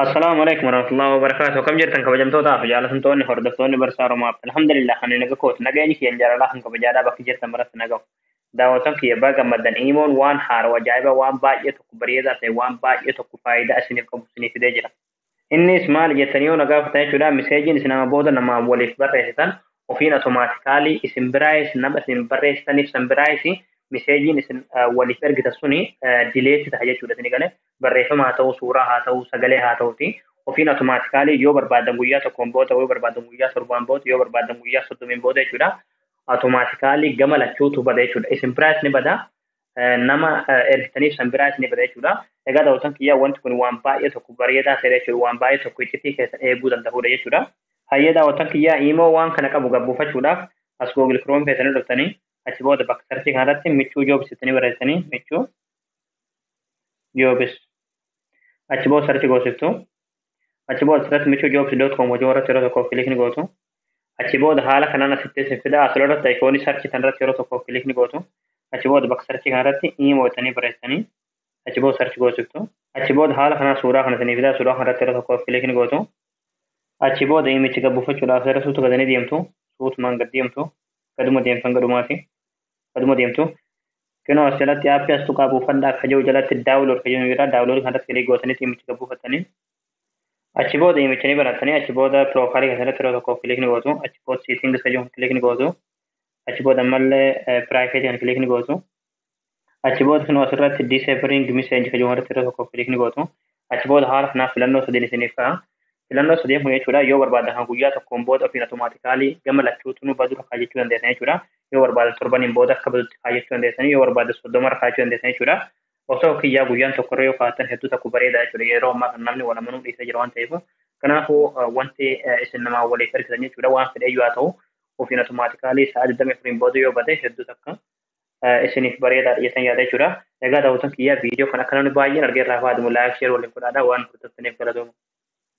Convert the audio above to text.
Assalaamu alaikum warahmatullahi wabarakatuh. Akkam jirtan kabajamtootaa fi jaallatamtoonni hordoftoonni barsaa Romaaf. Alhamdulillah ani naga kooti. Nageenyi kiyyan jaalalaa kan kabajaadhaa bakki jirtan maratti nagahu. Daawwatan kiyya baga gammaddan iimoon waan haarawa ajaa'iba waan baay'ee tokko bareedaa ta'e waan baay'ee tokko faayidaa isiniif qabu isiniif fidee jira. Innis maali jettanii yoo na gaafatan jechuudha miseejiin isin amma booda nama waliif barreessitan ofiin automaatikaalii isin biraayis nama isin barreessitaniif san biraayis miseejiin isin waliif ergitan suni dileetti ta'a jechuudha isin galee barreeffama haa ta'uu, suuraa haa ta'uu, sagalee haa ta'uuti ofiin automaatikaalii yoo barbaadan guyyaa tokkoon booda, yoo barbaadan guyyaa torbaan booda, yoo barbaadan guyyaa soddomiin booda jechuudha. Automaatikaalii gama lachuutu bada jechuudha. Isin biraas ni bada, nama ergitaniif san biraas ni bada jechuudha. Egaa daawwatan kiyyaa wanti kun waan baay'ee tokko bareedaa ta'e jechuudha. Waan baay'ee tokko iccitii keessan eeguu danda'udha jechuudha. Hayyee daawwatan kiyyaa imoo waan kana qabu gabbuufachuudhaaf as Google Chrome keessanii dhuftanii achi booda bakka sarchii kanarratti michuu joobs jettanii barreessanii michuu joobis achi booda sarchi goosiftu achi booda asirratti michuu joobis doot koom hojii irratti yeroo tokkoof kilikni gootu achi booda haala kanaan asitti isin fida asirra irratti ayikoonii sarchi kan irratti yeroo tokkoof kilikni gootu achi booda bakka sarchi kan irratti iimoo jettanii barreessanii achi booda sarchi goosiftu achi booda haala kanaan suuraa kana isinii fida suuraa kan irratti yeroo tokkoof kilikni gootu achi booda iimichi gabbuufachuudhaaf gara suutu gadanii deemtu suutumaan gad deemtu gaduma deemtan gadumaati Aduma deemtu kinoo as jalatti aappii as tuqaa buufadhaa akka jiru jalatti daawulood akka jiru jira. Daawulood kanarratti kilik gootanii dhimmicha gad buufattanii achi booda dhimmicha ni banattanii achi booda piroofaayilii keessatti yeroo tokko kilik ni gootu achi booda siitingis akka jiru kilik ni gootu achi booda ammallee piraayifeetii kan kilik ni gootu achi booda kinoo asirratti diiseebiring miseenji akka jiru irratti yeroo tokko kilik ni gootu Achi booda haala kanaaf filannoo sadeen isiniif ka'a. Filannoo sadeen kun jechuudha yoo barbaadan kan guyyaa tokkoon booda ofiin automaatikaalii gama lachuutunuu badurra kaajechuu dandeessan jechuudha. Yoo barbaadan torbaniin booda akka badutti kaajechuu dandeessanii yoo barbaadan soddomarra kaajechuu dandeessan jechuudha. Osoo kiyyaa guyyaan tokkorra yoo kaatan hedduu takku bareeda jechuudha. Yeroo ammaa kan namni wal amanuu dhiisee jira waan ta'eef. Kanaafuu wanti isin namaa waliif ergitan jechuudha waan fedheyyuu haa ta'u ofiin automaatikaalii sa'a 24 booda yoo bade hedduu takka isiniif bareedaadha jettan yaada jechuudha. Egaa daawwattoon kiyyaa viidiyoo kan akka namni baay'een argee irraa fayyadamu laayik sheer waliin godhaadha waan hordoftaniif galatooma.